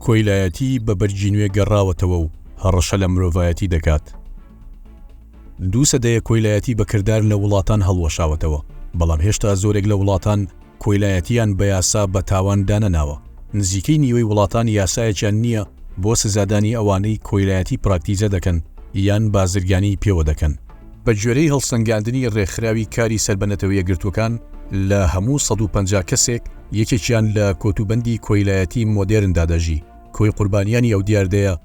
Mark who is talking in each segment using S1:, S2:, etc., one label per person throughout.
S1: کۆیلایەتی بە بەرگی نوێ گەڕاوەتەوە و هەڕەشە لە مرۆڤایەتی دەکات. دوو سەدەیە کۆیلایەتی بەکردار لە وڵاتان هەڵوەشاوەتەوە، بەڵام هێشتا زۆرێک لە وڵاتان کۆیلایەتییان بە یاسا بە تاوان دانەناوە، نزیکەی نیوەی وڵاتان یاسایەکیان نییە بۆ سزادانی ئەوانەی کۆیلایەتی پراکتیزە دەکەن یان بازرگانیی پێوە دەکەن. بە گوێرەی هەڵسەنگاندنی ڕێکخراوی کاری سەر بە نەتەوە یەکگرتووەکان، لە هەموو سەد و پەنجا کەسێک، یەکێکیان لە کۆتوبەندی کۆیلایەتی مۆدێرندا دەژی، کۆی قوربانیانی ئەو دیاردەیە،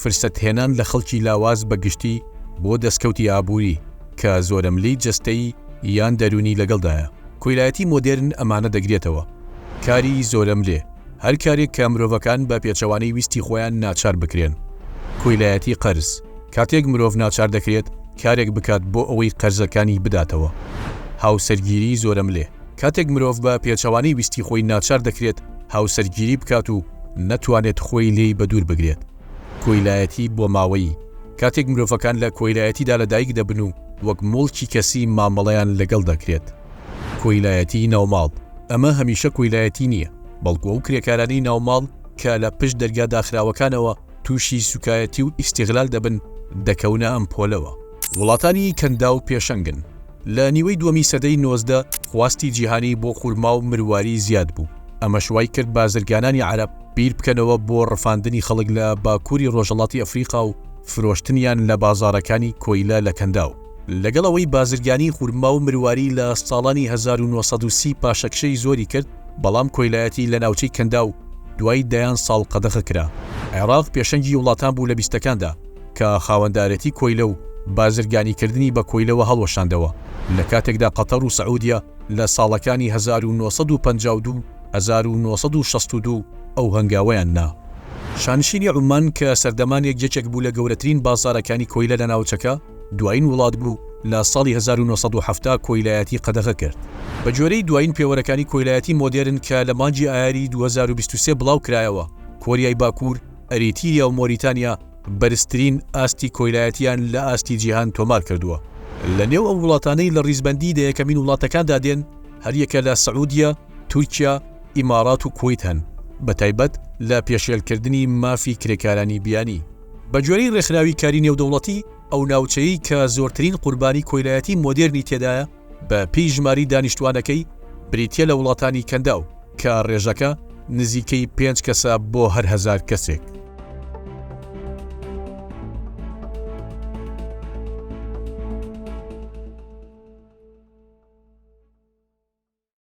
S1: فرسەتهێنان لە خەڵکی لاواز بە گشتی بۆ دەستکەوتی ئابووری کە زۆرەملێی جەستەیی یان دەروونی لەگەڵدایە. کۆیلایەتی مۆدێرن ئەمانە دەگرێتەوە، کاری زۆرەملێ، هەر کارێک کە مرۆڤەکان بە پێچەوانەی ویستی خۆیان ناچار بکرێن. کۆیلایەتی قەرز، کاتێک مرۆڤ ناچار دەکرێت کارێک بکات بۆ ئەوەی قەرزەکانی بداتەوە. هاوسەرگیری زۆرەملێ، کاتێک مرۆڤ بە پێچەوانەی ویستی خۆی ناچار دەکرێت هاوسەرگیری بکات و نەتوانێت خۆی لێی بەدوور بگرێت. کۆیلایەتی بۆماوەیی، کاتێک مرۆڤەکان لە کۆیلایەتیدا لەدایک دەبن و وەک موڵکی کەسی مامەڵەیان لەگەڵ دەکرێت. کۆیلایەتی ناوماڵ، ئەمە هەمیشە کۆیلایەتی نییە، بەڵکو ئەو کرێکارانەی ناوماڵ کە لە پشت دەرگا داخراوەکانەوە تووشی سوکایەتی و ئیستیغلال دەبن، دەکەونە ئەم پۆلەوە. وڵاتانی کەنداو پێشەنگن. لە نیوەی دووەمی سەدەی نۆزدە خواستی جیهانی بۆ خورما و مرواری زیاد بوو، ئەمەش وای کرد بازرگانانی عەرەب بیر بکەنەوە بۆ ڕفاندنی خەڵک لە باکووری ڕۆژهەڵاتی ئەفریقا و فرۆشتنیان لە بازاڕەکانی کۆیلە لە کەنداو. لەگەڵ ئەوەی بازرگانی خورما و مرواری لە ساڵانی هەزار و نۆ سەد و سی پاشەکشەی زۆری کرد، بەڵام کۆیلایەتی لە ناوچەی کەنداو دوای دەیان ساڵ قەدەخە کرا. عێراق پێشەنگی وڵاتان بوو لە بیستەکاندا، کە خاوەندارێتی کۆیلە و بازرگانیکردنی بە کۆیلەوە هەڵوەشاندەوە، لە کاتێکدا قەتەر و سعودیە لە ساڵەکانی هەزار و نۆ سەد و پەنجا و دوو و هەزار و نۆ سەد و شەست و دوو ئەو هەنگاوەیان نا. شانشینی عوممان کە سەردەمانێک یەکێک بوو لە گەورەترین بازاڕەکانی کۆیلە لە ناوچەکە، دوایین وڵات بوو لە ساڵی هەزار و نۆ سەد و حەفتا کۆیلایەتی قەدەغە کرد. بە گوێرەی دوایین پێوەرەکانی کۆیلایەتی مۆدێرن کە لە مانگی ئایاری دوو هەزار و بیست و سێ بڵاوکرایەوە، کۆریای باکوور، ئەریتیریا و مۆریتانیا بەرزترین ئاستی کۆیلایەتییان لە ئاستی جیهان تۆمار کردووە. لە نێو ئەو وڵاتانەی لە ڕیزبەندیی دە یەکەمین وڵاتەکاندا دێن، هەریەکە لە سعودیە، تورکیا، ئیمارات و کوەیت هەن، بەتایبەت لە پێشێلکردنی مافی کرێکارانی بیانی. بە گوێرەی ڕێکخراوی کاری نێودەوڵەتی، ئەو ناوچەیەی کە زۆرترین قوربانی کۆیلایەتی مۆدێرنی تێدایە، بە پێی ژماری دانیشتوانەکەی بریتیە لە وڵاتانی کەنداو کە ڕێژەکە نزیکەی پێنج کەسە بۆ هەر هەزار کەسێک.